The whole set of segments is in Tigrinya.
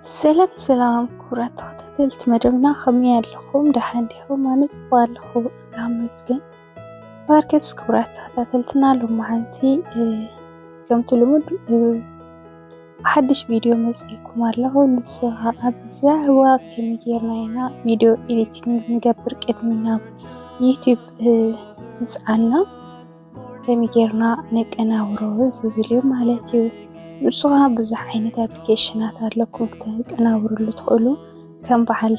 ሰላም ሰላም ክቡራት ተኸታተልቲ መደብና ከመይ ኣለኹም? ደሓን ዲኹም? ኣነ ፅቡቅ ኣለኹ ይመስገን። ማርኬስ ክብራት ተኸታተልትና ሎማዓንቲ ከምቲ ልሙድ ሓድሽ ቪድዮ መፅኢኩም ኣለኹ ንሱ ከዓ ብዛዕባ ከመይ ጌርና ኢና ቪድዮ ኤዲቲንግ ንገብር ቅድሚ ናብ ዩቲዩብ ምፅዓና ከመይ ጌርና ነቀናብሮ ዝብል እዩ ማለት እዩ ንሱ ከዓ ብዙሕ ዓይነት ኣፕሊኬሽናት ኣለኩም ክተቀናብርሉ ትኽእሉ ከም በዓል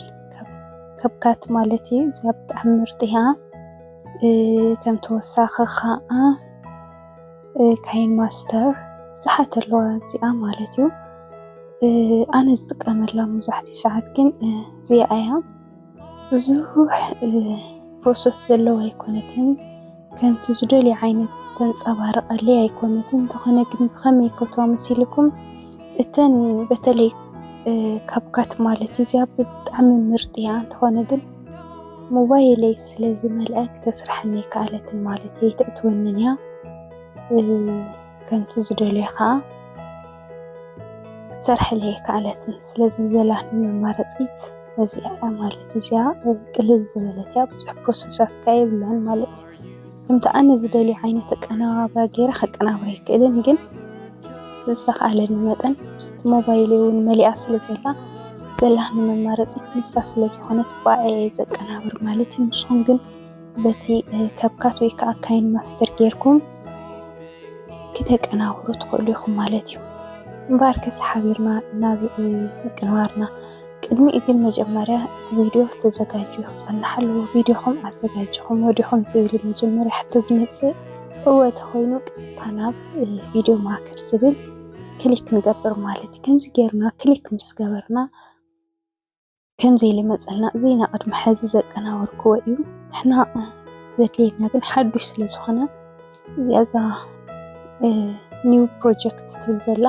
ከብካት ማለት እዩ እዚኣ ብጣዕሚ ምርጥ እያ ከም ተወሳኺ ከዓ ካይን ማስተር ብዙሓት ኣለዋ እዚኣ ማለት እዩ ኣነ ዝጥቀመላ መብዛሕትኡ ሰዓት ግን እዚኣ እያ ብዙሕ ፕሮሰስ ዘለዋ ኣይኮነትን ከምቲ ዝደልዮ ዓይነት ዝተንጸባረቐለይ ኣይኮነትን። እንተኾነ ግን ብኸመይ ይፈትዋ መሲልኩም እተን በተለይ ካብካት ማለት እዚያ ብጣዕሚ ምርጥ እያ። እንተኾነ ግን ሞባይለይ ስለ ዝመልአ ክተስርሐኒ ኣይከኣለትን ማለት እየ። ይተእትወንን እያ ከምቲ ዝደልዮ ከዓ ክትሰርሐሉ ኣይከኣለትን። ስለዚ ዘለኒ መማረፂት እዚኣ እያ ማለት እዩ። እዚኣ ቅልል ዝበለት እያ ብዙሕ ፕሮሰሳት ከ የብላን ማለት እዩ። ከምቲ ኣነ ዝደልዮ ዓይነት ኣቀነባብራ ገይረ ከቀናብራ ኣይክእልን ግን ብዝተኽኣለኒ መጠን ምስቲ ሞባይል እውን መሊኣ ስለ ዘላ ዘላኒ መማረፂት ንሳ ስለ ዝኾነት ብኣኣ እየ ዘቀናብር ማለት እዩ። ንስኹም ግን በቲ ከብካት ወይ ከዓ ካይን ማስተር ጌርኩም ክተቀናብሩ ትኽእሉ ኢኹም ማለት እዩ። እምበኣር ከስ ሓቢርና ናብ ምቅንባርና ቅድሚኡ ግን መጀመርያ እቲ ቪድዮ ተዘጋጅዩ ክፀንሕ ኣለዎ። ቪድዮኹም ኣዘጋጅኹም ወዲኹም ዝብል መጀመርያ ሕቶ ዝመፅእ እወ ተኮይኑ ቀጥታ ናብ ቪድዮ ማከር ዝብል ክሊክ ንገብር ማለት እዩ። ከምዚ ጌርና ክሊክ ምስ ገበርና ከምዘይልመፀልና እዚ ኢና ቅድሚ ሕዚ ዘቀናበርክዎ እዩ ንሕና ዘድልየና ግን ሓዱሽ ስለ ዝኾነ እዚኣ እዛ ኒው ፕሮጀክት ትብል ዘላ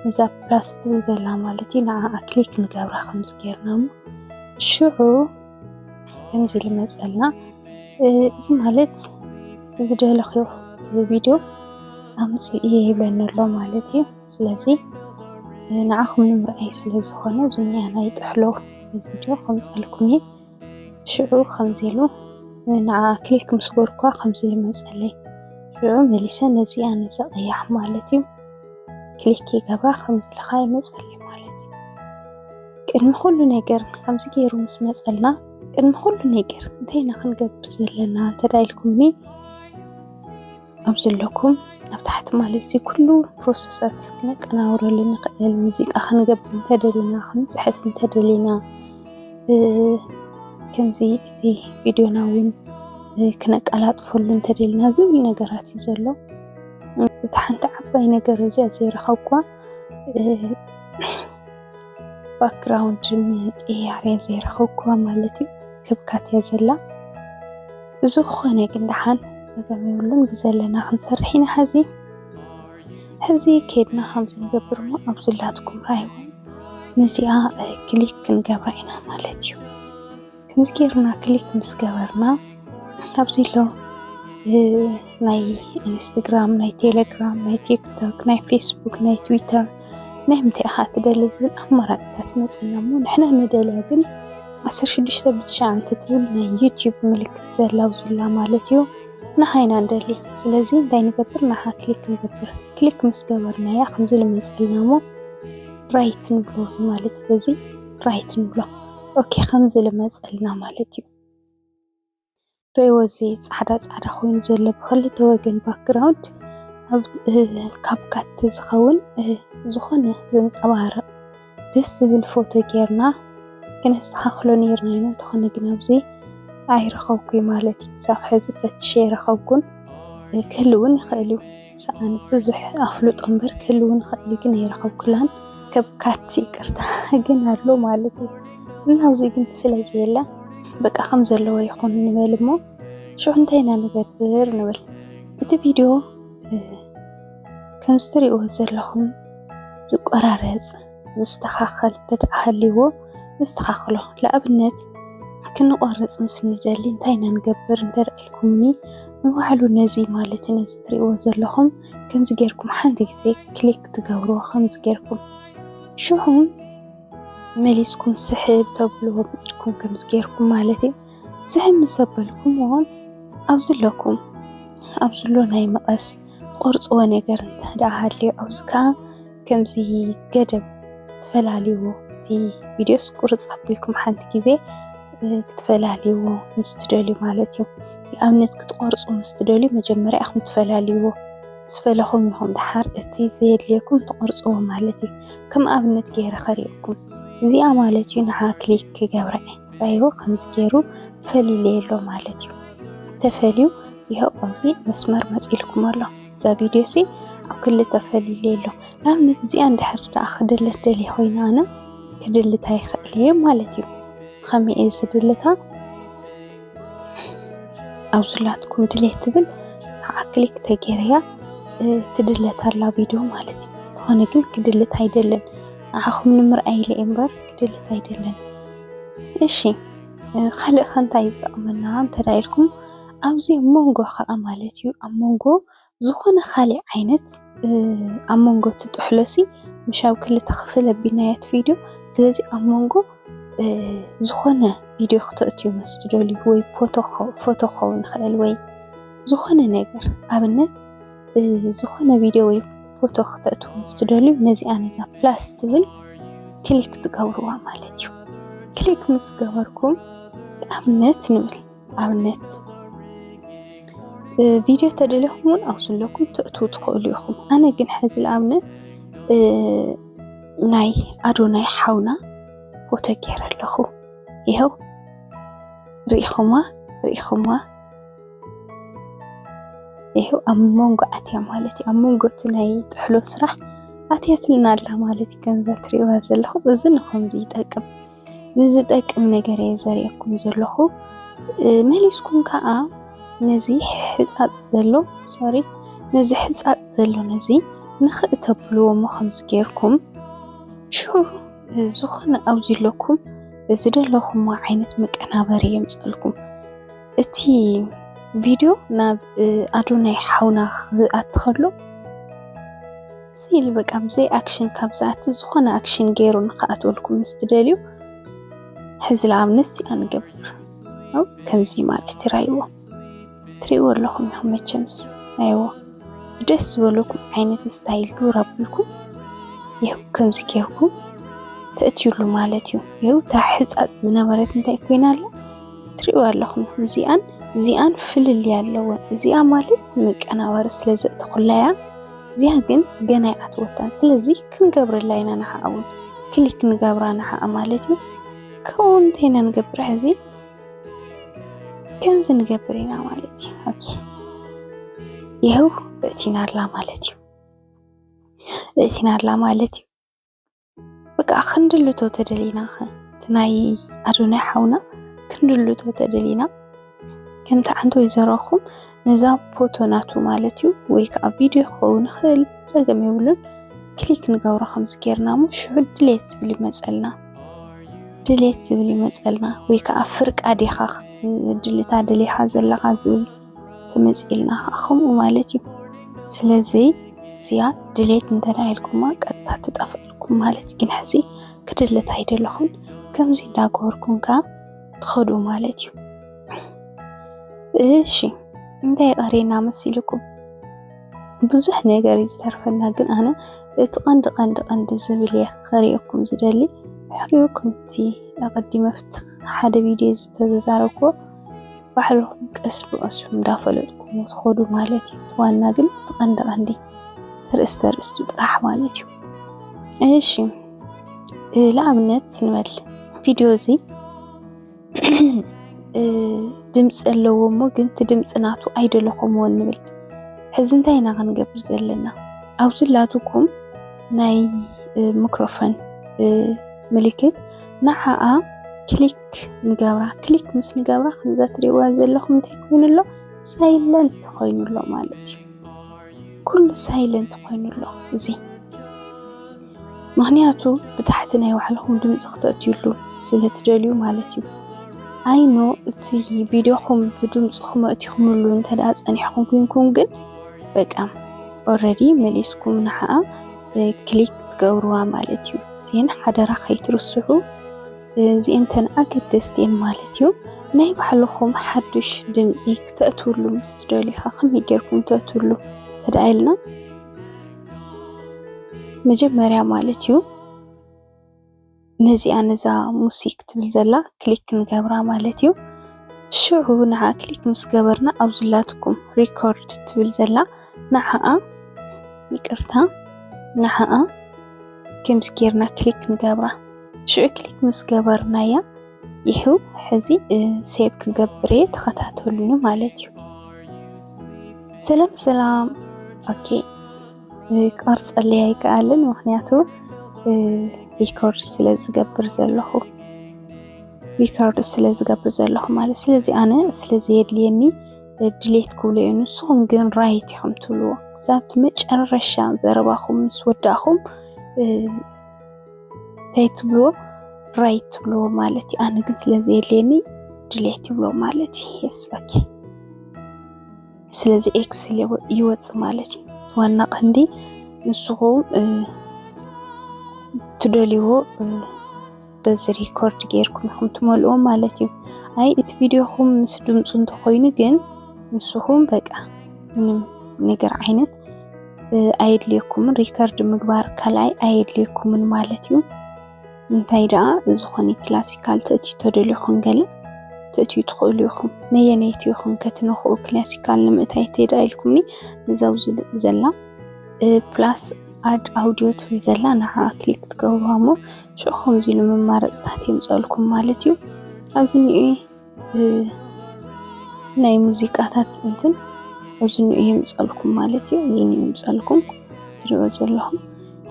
እዛ ፕላስ ትብል ዘላ ማለት እዩ ንዓኣ ክሊክ ንገብራ ከምዚ ጌርና እሞ ሽዑ ከምዚ ልመፀልና እዚ ማለት ዝደለኽዮ ቪድዮ ኣምፅኡ እየ ይብለኒ ኣሎ ማለት እዩ ስለዚ ንዓኹም ንምርኣይ ስለ ዝኾነ እዚ ናይ ጥሕሎ ቪድዮ ከምፀኣልኩም እየ ሽዑ ከምዚ ኢሉ ንዓ ክሊክ ምስ ገበርኳ ከምዚ ኢሉ መፀለይ ሽዑ መሊሰ ነዚ ኣነ ዘቐያሕ ማለት እዩ ክሊክ ይገብራ ከምዚ ኢልኻ ይመፀለይ ማለት እዩ ቅድሚ ኩሉ ነገር ከምዚ ገይሩ ምስ መፀልና ቅድሚ ኩሉ ነገር እንታይ ኢና ክንገብር ዘለና እንተዳ ኢልኩምኒ ኣብ ዘለኩም ኣብ ታሕቲ ማለት እዚ ኩሉ ፕሮሰሳት ክነቀናብረሉ ንኽእል ሙዚቃ ክንገብር እንተደሊና ክንፅሕፍ እንተደሊና ከምዚ እቲ ቪድዮና እውን ክነቀላጥፈሉ እንተደሊና ዝብሉ ነገራት እዩ ዘሎ እቲ ሓንቲ ዓባይ ነገር እዚኣ ዘይረኸብኩዋ ባክግራውንድ ምቅያር እየ ዘይረኸብኩ ማለት እዩ ክብካት እያ ዘላ ብዝኾነ ግን ደሓን ፀገም የብሉን ብዘለና ክንሰርሕ ኢና ሕዚ ሕዚ ከድና ከምዚ ንገብር እሞ ኣብ ዝላትኩም ራይውን ነዚኣ ክሊክ ክንገብራ ኢና ማለት እዩ ከምዚ ጌርና ክሊክ ምስ ገበርና ኣብዚ ኣሎ ናይ ኢንስታግራም፣ ናይ ቴለግራም፣ ናይ ቲክቶክ፣ ናይ ፌስቡክ፣ ናይ ትዊተር ናይ ምንታይ ኢኻ ትደሊ ዝብል ኣማራፅታት ይመፅና እሞ ንሕና ንደልያ ግን ዓሰርተ ሽዱሽተ ብትሽዓን እንትትብል ናይ ዩትዩብ ምልክት ዘላ ኣብዚ ዘላ ማለት እዩ ንዓ ኢና ንደሊ ስለዚ እንታይ ንገብር ንዓ ክሊክ ንገብር ክሊክ ምስ ገበርናያ ከምዚ ልመፅልና እሞ ራይት ንብሎ ማለት በዚ ራይት ንብሎ ኦኬ ከምዚ ልመፀልና ማለት እዩ ርእይዎ እዚ ፃዕዳ ፃዕዳ ኮይኑ ዘሎ ብክልተ ወገን ባክግራውንድ ካብ ካቲ ዝኸውን ዝኾነ ዘንፀባርቕ ደስ ዝብል ፎቶ ጌርና ክነስተኻኽሎ ነይርና ኢና እንተኾነ ግን ኣብዚ ኣይረኸብኩይ ማለት እዩ ክሳብ ሕዚ ፈትሸ ኣይረኸብኩን ክህልውን ይኽእል እዩ ሰኣን ብዙሕ ኣፍልጦ እምበር ክህልውን ይኽእል እዩ ግን ኣይረኸብኩላን ከብካቲ ይቅርታ ግን ኣሎ ማለት እዩ እና ኣብዚ ግን ስለ ዘየለ በቃ ከም ዘለዎ ይኹን ንበል እሞ ሽዑ እንታይ ኢና ንገብር ንብል እቲ ቪድዮ ከምዚ ትሪእዎ ዘለኹም ዝቆራረፅ ዝስተኻኸል እንተድኣ ሃልይዎ ነስተኻኽሎ። ንኣብነት ክንቖርጽ ምስ ንደሊ እንታይ ኢና ንገብር እንተድኣ ኢልኩምኒ፣ ንባዕሉ ነዚ ማለት ነዚ ትርእይዎ ዘለኹም ከምዚ ጌርኩም ሓንቲ ግዜ ክሊክ ትገብርዎ ከምዚ ጌርኩም ሽዑ መሊስኩም ስሕብ ተብልዎ ብኢድኩም ከምዚ ጌርኩም ማለት እዩ ስሕብ ምስ ኣበልኩምዎ ኣብዚ ኣለኩም ኣብዚ ኣሎ ናይ መቐስ ትቖርጽዎ ነገር እንተድኣ ሃልዩ ኣብዚ ከኣ ከምዚ ገደብ ትፈላልይዎ እቲ ቪድዮስ ቁርፅ ኣቢልኩም ሓንቲ ግዜ ክትፈላልይዎ ምስ ትደልዩ ማለት እዩ። ንኣብነት ክትቆርፁ ምስ ትደልዩ መጀመርያ ኢኹም ትፈላልይዎ ምስ ፈለኹም ኢኹም ድሓር እቲ ዘየድልየኩም ትቆርፅዎ ማለት እዩ። ከም ኣብነት ገይረ ከርእየኩም እዚኣ ማለት እዩ ንዓ ክሊክ ክገብረ ራይዎ ከምዚ ገይሩ ፈሊለየሎ ማለት እዩ። ተፈልዩ ይኸው ኣብዚ መስመር መፂልኩም ኣሎ። እዛ ቪድዮ ሲ ኣብ ክሊ ተፈልለ ኣሎ ንኣብነት እዚኣ እንድሕር ደኣ ክድለት ደልየ ኮይና ኣነ ክድልታ ይኽእል እየ ማለት እዩ ብኸመይ እየ ዝድልታ ኣብ ዝላትኩም ድሌት ትብል ከዓ ክሊክ ተገይረያ ትድለት ኣላ ቪድዮ ማለት እዩ ዝኾነ ግን ክድልት ኣይደለን ንዓኹም ንምርኣይ ኢለ እምበር ክድልት ኣይደለን እሺ ካልእ ከ እንታይ ዝጠቕመና እንተዳ ኢልኩም ኣብዚ ኣብ መንጎ ከኣ ማለት እዩ ኣብ መንጎ ዝኾነ ካሊእ ዓይነት ኣብ መንጎ እቲ ጥሕሎሲ ምሽ ኣብ ክልተ ክፍል ኣቢልናዮ እቲ ቪድዮ ስለዚ ኣብ መንጎ ዝኾነ ቪድዮ ክተእትዩ ምስ ትደልዩ ወይ ፎቶ ክኸውን ይኽእል ወይ ዝኾነ ነገር ኣብነት ዝኾነ ቪድዮ ወይ ፎቶ ክተእትዉ ምስ ትደልዩ ነዚኣ ነዛ ፕላስ ትብል ክሊክ ትገብርዋ ማለት እዩ ክሊክ ምስ ገበርኩም ኣብነት ንብል ኣብነት ቪድዮ ተደሊኹም እውን ኣብ ዘለኩም ትእትዉ ትኽእሉ ኢኹም ኣነ ግን ሕዚ ንኣብነት ናይ ኣዶናይ ሓውና ፎቶ ገይረ ኣለኹ ይኸው ርኢኹማ ርኢኹማ ይኸው ኣብ መንጎ ኣትያ ማለት እዩ ኣብ መንጎ እቲ ናይ ጥሕሎ ስራሕ ኣትያትልና ኣላ ማለት እዩ ከምዛ ትሪእዋ ዘለኹም እዚ ንከምዚ ይጠቅም ንዝጠቅም ነገር እየ ዘርእየኩም ዘለኹ መሊስኩም ከዓ ነዚ ሕፃፅ ዘሎ ሶሪ ነዚ ሕፃፅ ዘሎ ነዚ ንኽእ ተብልዎ እሞ ከምዚ ጌርኩም ሽዑ ዝኾነ ኣብዚ ኣለኩም ዝደለኹሞ ዓይነት መቀናበሪ የምፀልኩም እቲ ቪድዮ ናብ ኣዶናይ ሓውና ክኣቲ ከሎ ስኢሊ በቃ ብዘይ ኣክሽን ካብ ዝኣቲ ዝኾነ ኣክሽን ገይሩ ንክኣትወልኩም ምስ ትደልዩ ሕዚ ንኣብነት እዚኣ ንገብር ከምዚ ማለት ይራይዎ ትሪእዎ ኣለኹም ኢኹም መቸምስ ኣይዎ ደስ ዝበለኩም ዓይነት ስታይል ግብር ኣብልኩም ይኸው ከምዚ ጌርኩም ተእትዩሉ ማለት እዩ ይኸው እታ ሕፃፅ ዝነበረት እንታይ ኮይና ኣላ ትሪእዋ ኣለኹም እዚኣን እዚኣን ፍልልይ ኣለወን። እዚኣ ማለት መቀናበሪ ስለ ዘእተኹላያ እዚኣ ግን ገና ይኣትወታን። ስለዚ ክንገብረላ ኢና ንሓኣ እውን ክሊክ ንገብራ ንሓኣ ማለት እዩ። ከምኡ እንታይ ኢና ንገብር ሕዚ ከምዚ ንገብር ኢና ማለት እዩ። ኦኬ ይኸው እእቲና ኣላ ማለት እዩ። እእቲና ኣላ ማለት እዩ። በቃ ክንድልቶ ተደሊና ኸ እቲ ናይ ኣዶናይ ሓውና ክንድልቶ ተደሊና ከምቲ ዓንቶ ይዘረኹም ነዛ ፎቶ ናቱ ማለት እዩ ወይ ከዓ ቪድዮ ክኸውን ይኽእል ፀገም የብሉን ክሊክ ንገብሮ ከምዚ ጌርና እሞ ሽዑ ድሌት ዝብል ይመፀልና ድሌት ዝብል ይመፀልና ወይ ከዓ ፍርቃ ዲኻ ክትድልታ ደሊኻ ዘለኻ ዝብል ትመጽእ ኢልና ከኣ ከምኡ ማለት እዩ። ስለዚ እዚኣ ድሌት እንተድኣ ኢልኩማ ቀጥታ ትጠፍኣልኩም ማለት እዩ። ግን ሕዚ ክድልት ኣይደለኹን ከምዚ እንዳገበርኩም ከኣ ትኸዱ ማለት እዩ። እሺ እንታይ ቀሪና መሲልኩም? ብዙሕ ነገር እዩ ዝተርፈና፣ ግን ኣነ እቲ ቀንዲ ቀንዲ ቀንዲ ዝብል እየ ክሪኦኩም ዝደሊ ሕሪኡኩም እቲ ኣቐዲመ ፍትኽ ሓደ ቪድዮ ዝተዛረብኩዎ ባዕልኹም ቀስ ብቐስ እንዳፈለጥኩሞ ትኸዱ ማለት እዩ። እቲ ዋና ግን እቲ ቀንዲ ቀንዲ ተርእስተ ኣርእስቱ ጥራሕ ማለት እዩ። እሺ ንኣብነት ንበል ቪድዮ እዚ ድምፂ ኣለዎ እሞ ግን እቲ ድምፂ ናቱ ኣይደለኹምዎ ንብል ሕዚ እንታይ ኢና ክንገብር ዘለና ኣብዚ ላትኩም ናይ ምክሮፎን ምልክት ንዓኣ ክሊክ ክሊክ ንገብራ ክሊክ ምስ ንገብራ ከምዛ ትሪእዋ ዘለኹም እንታይ ኮይኑ ኣሎ ሳይለንት ኮይኑ ኣሎ ማለት እዩ ኩሉ ሳይለንት ኮይኑ ኣሎ እዚ ምክንያቱ ብታሕቲ ናይ ባዕልኹም ድምፂ ክተእትዩሉ ስለትደልዩ ማለት እዩ ኣይኖ እቲ ቪድዮኹም ብድምፅኹም ኣእቲኹምሉ እንተዳ ፀኒሕኹም ኩንኩም ግን በቃ ኦረዲ መሊስኩም ንሓኣ ክሊክ ትገብርዋ ማለት እዩ ዜን ሓደራ ከይትርስሑ እዚእንተን ኣገደስቲ እየን ማለት እዩ። ናይ ባዕልኹም ሓዱሽ ድምፂ ክተእትውሉ ምስ ትደልዩ ኸ ከመይ ጌርኩም ተእትውሉ ተደኣ ኢልና መጀመርያ ማለት እዩ ነዚኣ ነዛ ሙሲክ ትብል ዘላ ክሊክ ክንገብራ ማለት እዩ። ሽዑ ንዓ ክሊክ ምስ ገበርና ኣብ ዝላትኩም ሪኮርድ ትብል ዘላ ንዓኣ ይቅርታ ንዓኣ ከምዚ ጌርና ክሊክ ንገብራ። ሽዑ ክሊክ ምስ ገበርናያ ይሑ ሕዚ ሴቭ ክገብር እየ ተኸታተሉኒ ማለት እዩ። ሰላም ሰላም። ኦኬ ክቐርፀለይ ኣይከኣልን ምክንያቱ ሪኮርድ ስለ ዝገብር ዘለኹ ሪኮርድ ስለ ዝገብር ዘለኹ ማለት ስለዚ ኣነ ስለ ዘየድልየኒ ድሌት ክብሎ እዩ ንስኹም ግን ራይት ኢኹም ትብልዎ ክሳብቲ መጨረሻ ዘረባኹም ምስ ወዳእኹም እንታይ ትብልዎ ራይት ትብልዎ ማለት እዩ። ኣነ ግን ስለ ዘየድልየኒ ድሌት ይብሎ ማለት እዩ። የስ ኦኬ። ስለዚ ኤክስ ይወፅእ ማለት እዩ። ዋና ቀንዲ ንስኹም ትደልይዎ በዚ ሪኮርድ ጌርኩም ኢኹም ትመልእዎ ማለት እዩ። ኣይ እቲ ቪድዮኹም ምስ ድምፁ እንተኾይኑ ግን ንስኹም በቃ ምንም ነገር ዓይነት ኣየድልየኩምን ሪከርድ ምግባር ካልኣይ ኣየድልየኩምን ማለት እዩ። እንታይ ደኣ ዝኾነ ክላሲካል ትእትዩ ተደልኹም ገለ ትእትዩ ትኽእሉ ኢኹም። ነየነይቲ ኢኹም ከትነኽኡ ክላሲካል ንምእታይ ተይዳ ኢልኩምኒ ንዛው ዘላ ፕላስ ኣድ ኣውዲዮ ትብል ዘላ ንዓ ክሊክ ትገብሩዋ እሞ ሽዑ ከምዚ ኢሉ መማረፅታት የምፀልኩም ማለት እዩ ኣብዚ ናይ ሙዚቃታት እንትን ኣብዚ እንኦ የምፀኣልኩም ማለት እዩ። እዚ እንኦ የምፀኣልኩም ትሪእዎ ዘለኹም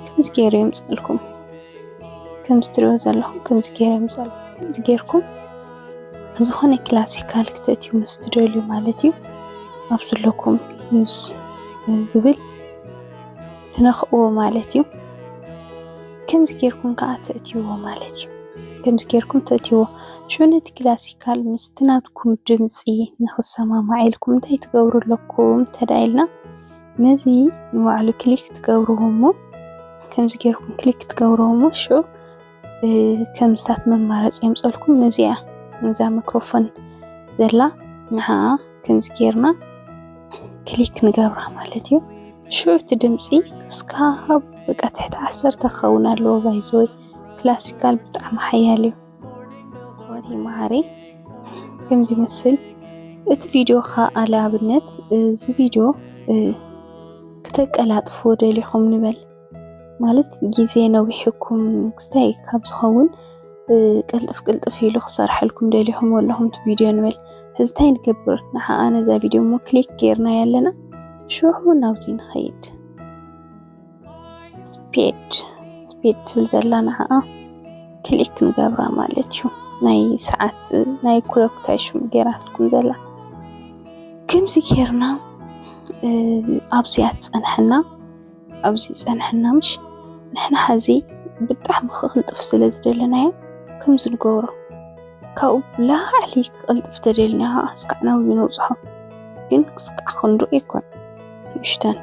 ከምዚ ገይሩ የምፀኣልኩም ከምዚ ትሪእዎ ዘለኹም ከምዚ ገይሩ የምፀኣልኩም ከምዚ ገይርኩም ዝኾነ ክላሲካል ክተእትዩ ምስ ትደልዩ ማለት እዩ ኣብ ዘለኩም ዩዝ ዝብል ትነኽእዎ ማለት እዩ። ከምዚ ገይርኩም ከዓ ተእትይዎ ማለት እዩ። ከምዚ ገይርኩም ተእትይዎ ሽዑ ነቲ ክላሲካል ምስቲ ናትኩም ድምጺ ንኽሰማማዕ ኢልኩም እንታይ ትገብሩ ኣለኩም እንተድኣ ኢልና ነዚ ንባዕሉ ክሊክ ትገብርዎ እሞ ከምዚ ጌርኩም ክሊክ ትገብርዎ እሞ ሽዑ ከምስታት መማረፂ የምፀልኩም ነዚኣ ነዛ ሚክሮፎን ዘላ ንዓኣ ከምዚ ጌርና ክሊክ ንገብራ ማለት እዩ ሽዑ እቲ ድምፂ እስካብ በቃ ትሕቲ ዓሰርተ ክኸውን ኣለዎ ባይዘወይ ክላሲካል ብጣዕሚ ሓያል እዩ ወዲ መሃሪ ከም ዝመስል እቲ ቪድዮ ከዓ ለኣብነት እዚ ቪድዮ ክተቀላጥፎ ደሊኹም ንበል ማለት ግዜ ነዊሕኩም ክስታይ ካብ ዝኸውን ቅልጥፍ ቅልጥፍ ኢሉ ክሰርሐልኩም ደሊኹም ኣለኹም እቲ ቪድዮ ንበል እዚ እንታይ ንገብር ንሓኣ ነዛ ቪድዮ እሞ ክሊክ ገይርና ያለና ሽዑ ናብዚ ንኸይድ ስፔድ ስፔድ ትብል ዘላ ንዓኣ ክሊክ ንገብራ ማለት እዩ ናይ ሰዓት ናይ ክሎክ ታይሽሙ ጌራትኩም ዘላ ከምዚ ጌርና ኣብዚኣ ትፀንሐና ኣብዚ ፀንሐና ምሽ ንሕና ሓዚ ብጣዕሚ ክቅልጥፍ ስለ ዝደለናዮ ከምዚ ንገብሮ ካብኡ ብላዕሊ ክቅልጥፍ ተደልና ከዓ እስካዕ ናብኡ ነብፅሖ ግን ክስካዕ ክንዱ ኣይኮን ንእሽተን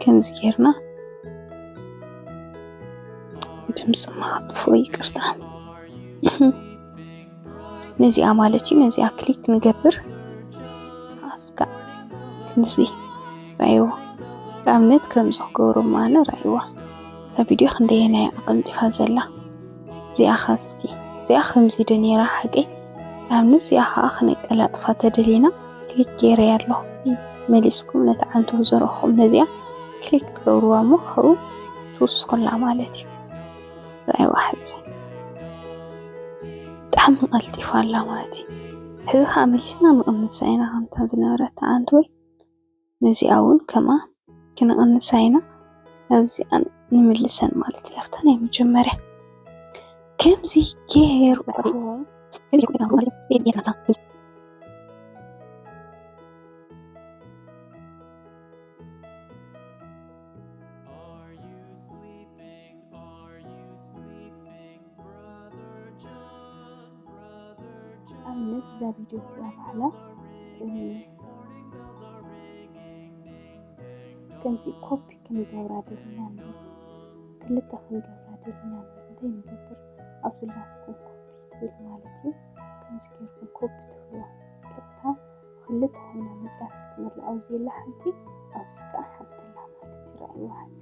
ከምዚ ጌርና ድምፂ ምሃብፎ ይቅርታ ነዚኣ ማለት እዩ ነዚኣ ክሊክ ንገብር ኣስካ ክንዚ ራይዎ ንኣብነት ከምዚ ክገብሩ ማነ ራይዋ እታ ቪድዮ ክንደየናይ ኣቀልጢፋ ዘላ እዚኣ ኸስኪ እዚኣ ከምዚ ዶ ነይራ ሓቀይ ኣብኒ እዚኣ ከዓ ክነቀላጥፋ ተደሊና ክሊክ ገይረ ኣለኹ መሊስኩም ነቲ ዓንቶ ዘረኹም ነዚኣ ክሊክ ትገብርዋ እሞ ከብኡ ትውስኹላ ማለት እዩ ራይዋ ሕዚ ብጣዕሚ ቀልጢፋ ኣላ ማለት እዩ ሕዚ ከዓ መሊስና ንቕንሳ ኢና ከምታ ዝነበረት ዓንቶ ወይ ነዚኣ ውን ከምኣ ክንቕንሳ ኢና ናብዚኣ ንምልሰን ማለት እያ ኣብታ ናይ መጀመርያ ከምዚ ጌርኩም ኣብነት እዛ ቪድዮ እዚኣ ባዕላ ከምዚ ኮፒ ክንገብራ ደሊና ንብል ክልተ ክንገብራ ደሊና ንብል እንታይ ንገብር ኣብ ዝላትኩም ኮፒ ትብል ማለት እዩ ከምዚ ገርኩም ኮፒ ትብልዋ ቀጥታ ክልተ ኮይና መፅያት ክትመላ ኣብዚ የላ ሓንቲ ኣብዚ ከዓ ሓንቲ ኣላ ማለት ይረኣይዋ ሓዚ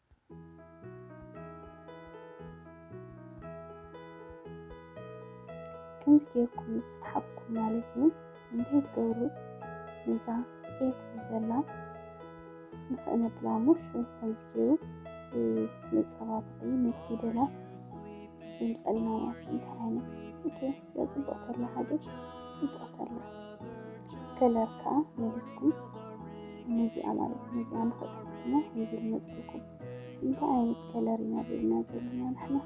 ከምዚ ጌርኩም ምስ ጸሓፍኩም ማለት እዩ እንታይ ትገብሩ ነዛ ኤት ዘላ ንኽእነብላ እሞ ሹ ከምዚ ጌሩ መጸባበቒ ነቲ ፊደላት የምጸልና ማለት እዩ እንታይ ዓይነት ኦኬ ጽብቕተላ ሃገር ጽብቕተላ ከለር ከዓ መሊስኩም ነዚኣ ማለት እዩ ነዚኣ ንኸጥፍኩሞ ከምዚ ዝመፅልኩም እንታይ ዓይነት ከለር ኢና ደልና ዘለና ንሕና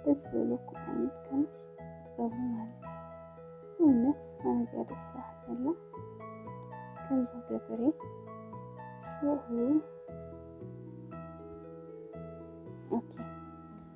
ደስ ዝበለኩም ዓይነት ከለር ጥበቡ ማለት እዩ እምነት ኣነዚኣ ደስ ላዓላ ከምዚ ገበሬ ሽዑ ኦኬ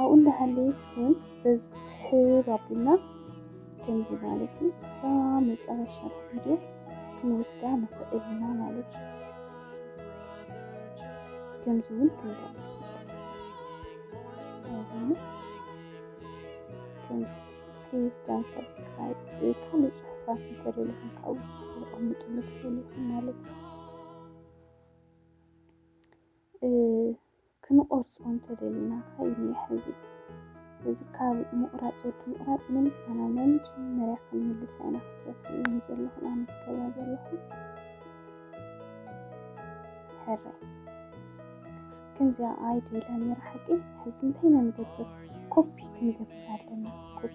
ኣብኡ እንዳሃለየት እውን በዚ ስሕብ ኣቢልና ከምዚ ማለት እዩ እዛ መጨረሻ ቪድዮ ክንወስዳ ንኽእል ኢና ማለት እዩ ከምዚ እውን ክንደርግ ከምዚ ፕሊዝ ዳን ሰብስክራይብ ካልእ ፅሑፋት እንተደለኹም ካብኡ ክትቕምጡ ንትኽእሉ ኢኹም ማለት እዩ ክንቖርጾ እንተደሊና ኸይንየ ሕዚ እዚ ካብ ምቑራጽ ወዲ ምቑራጽ መሊስና ናብ ናይ መጀመርያ ክንምልሳ ኢና ክብዛ ትርእይዎም ዘለኹም ኣነ ዝገብራ ዘለኹ ሕራይ ከምዚኣ ኣይዲ ኢላ ነይራ ሓቂ ሕዚ እንታይ ኢና ንገብር ኮፒ ክንገብር ኣለና ኮፒ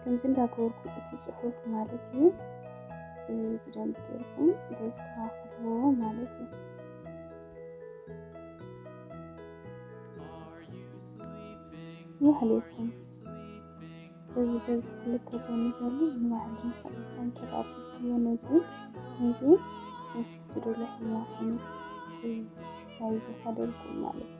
ከምዚ እንዳገበርኩ እቲ ፅሑፍ ማለት እዩ ብደንብ ጌርኩም ተስተኻኽልዎ ማለት እዩ። ይሕልኩም በዚ በዚ ክልተ ጎኒ ዘሎ ንባህሊ ንክልኩም ተጣብቅዮ ነዚ ነዚ ንክትስዱሉ ሕማት ዓይነት ሳይዝ ከደልኩም ማለት እዩ።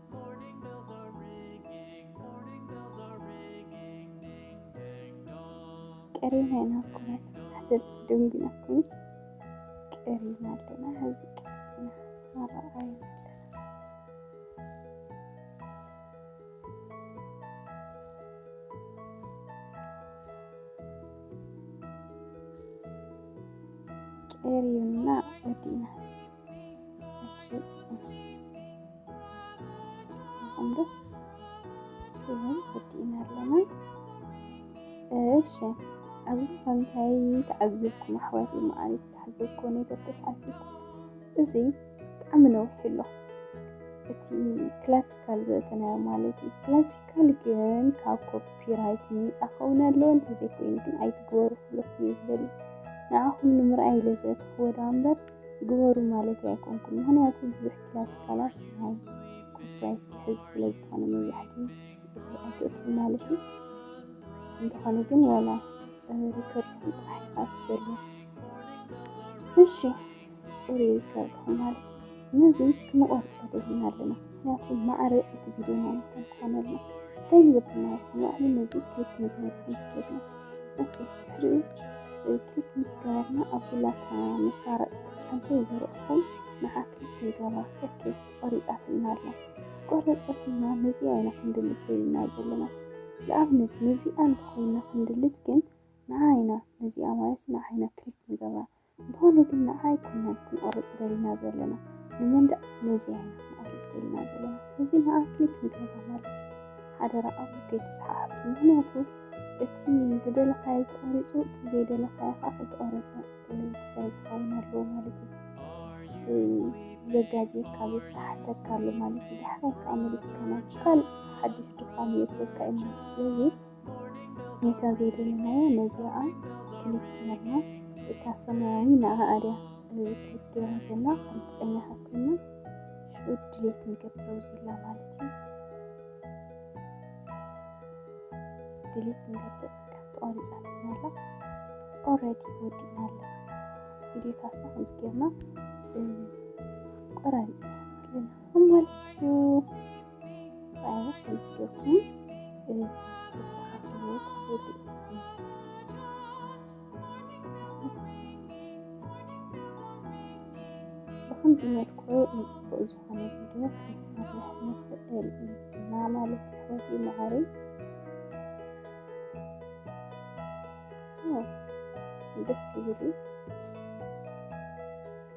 ቀሪና ኢና እኮ መተሳሰልቲ ደንጉና ኩንስ ቀሪና ኣለና ሕዚ ቀሪና ኣረኣዩ ቀሪና ወዲና ይህን ወዲእና ኣለና እሺ ኣብዚ ፈንታይ ተዓዝብኩም ኣሕዋት መዓሪ ተዓዝብኩ ነገር ተዓዝብኩ እዚ ብጣዕሚ ነዊሕ ኣሎ እቲ ክላሲካል ዘእተናዮ ማለት እዩ ክላሲካል ግን ካብ ኮፒራይት ነፃ ከውን ኣለዎ እንተዘይኮይኑ ግን ኣይትግበሩ ክብለኩም እዩ ዝበሊ ንዓኹም ንምርኣይ ኢለ ዘእትኽዎ ዳ እምበር ግበሩ ማለት ኣይኮንኩም። ምክንያቱ ብዙሕ ክላሲካላት ፀሓይ ኮፒራይት ዝሕዝ ስለ ዝኾነ መብዛሕትኡ ኣይትእቱ ማለት እዩ። እንተኾነ ግን ዋላ ሪከርድ ጥራሕ ኢኻ ትዘሉ። እሺ ፅሩ ሪከርድ ማለት እዩ። ነዚ ክንቆርፆ ደሊና ኣለና። ምክንያቱ ማዕረ እቲ ቪድዮ ናይ ምኳን ክኾነልና እንታይ ንገብር ማለት ንባዕሉ ነዚ ክሊክ ንግበር ምስ ገድና ኦኬ ድሕሪኡ ክሊክ ምስ ገበርና ኣብዚ ላታ መፋረጢት ሓንቲ ዝረእኹም ንዓ ክሊክ ክንገብራ ኦኬ ቆሪፃትና ኣላ ምስ ቆረፀትና ነዚኣ ኢና ክንድልት ደልና ዘለና ንኣብነት ነዚኣ እንተኮይና ክንድልት ግን ንዓ ኢና ነዚኣ ማለት ንዓ ኢና ክሊክ ንገብራ እንተኾነ ግን ንዓ ኣይኮናን ክንቆርጽ ደሊና ዘለና ንመንደቅ ነዚኣ ኢና ክንቆርጽ ደሊና ዘለና ስለዚ ንዓ ክሊክ ንገብራ ማለት እዩ ሓደራ ኣብዚ ከይትሰሓሓቱ ምክንያቱ እቲ ዝደለካዮ ተቆሪጹ እቲ ዘይደለካዮ ከዓ ከይተቆረጸ ክሳይ ዝኸውን ኣለዎ ማለት እዩ ዘጋጊርካ ዝሰሓተካ ኣሎ ማለት እዩ ድሕራይ ከዓ መሊስካ ናብ ካልእ ሓዱሽ ድኻም የእትወካ እዩ ማለት ስለዚ ጌታ ዘይደለናዮ ነዚኣ ክሊክ ገርና እታ ሰማያዊ ንኣ ኣድያ ክሊክ ገርና ዘና ርግፀኛ ሃብክና ሽዑ ድሌት ንገብረው ዝላ ማለት እዩ ድሌት ንገብር ተቋሪፃትና ኣላ ኦረዲ ወዲና ኣለ ቪዲዮታትና ከምዚ ገርና ቆራሪፅና ኣለና ማለት እዩ ራይነት ከምቲ ጌርኩም ተስተኻኽልዎ ትኽእሉ ብኸምዚ መልኩ ንፅቡቅ ዝኾነ ቪድዮ ክንሰርሕ ንኽእል ኢና ማለት ሕወት መዓሪ ደስ ይብል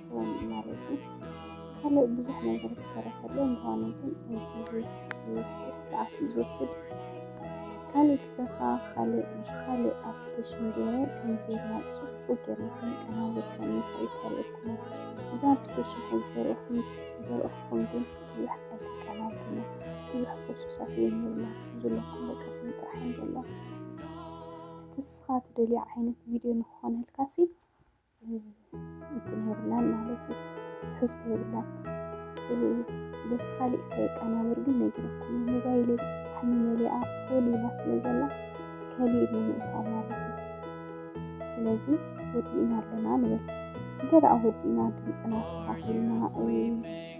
ክኸውን እዩ ማለት እዩ ካልእ ብዙሕ ነገር ዝተረፈለ እንተኾነ ግን ኣይግዜ ዝበዝሕ ሰዓት እዩ ዝወስድ ካልእ ግዘኻ ካልእ ብካልእ ኣፕሊኬሽን ገይረ ከም ጌርና ፅቡቅ ጌርና ክንቀናዘብ ከም ንኽእል ከርእየኩም እዛ ኣፕሊኬሽን ሕዚ ዘርእኹም ዘርእኹም ግን ብዙሕ ኣይትቀናልኩነ ብዙሕ ፕሮሰሳት እውን የብላ ዘለኩም በቃ ስም ጥራሕ ዘላ እቲ ንስኻ ትደልዮ ዓይነት ቪድዮ ንክኾነልካሲ እንትን የብላን ማለት እዩ ትሕዝቶ የብላን በቲ ካሊእ ከየቀናብር ግን ነጊረኩም ሞባይል ብጣዕሚ መሊኣ ፉል ኢላ ስለ ዘላ ከሊእ ብምእታ ማለት እዩ ስለዚ ወዲእና ኣለና ንበል እንተ ደኣ ወዲእና ድምፅና ኣስተኻኺልና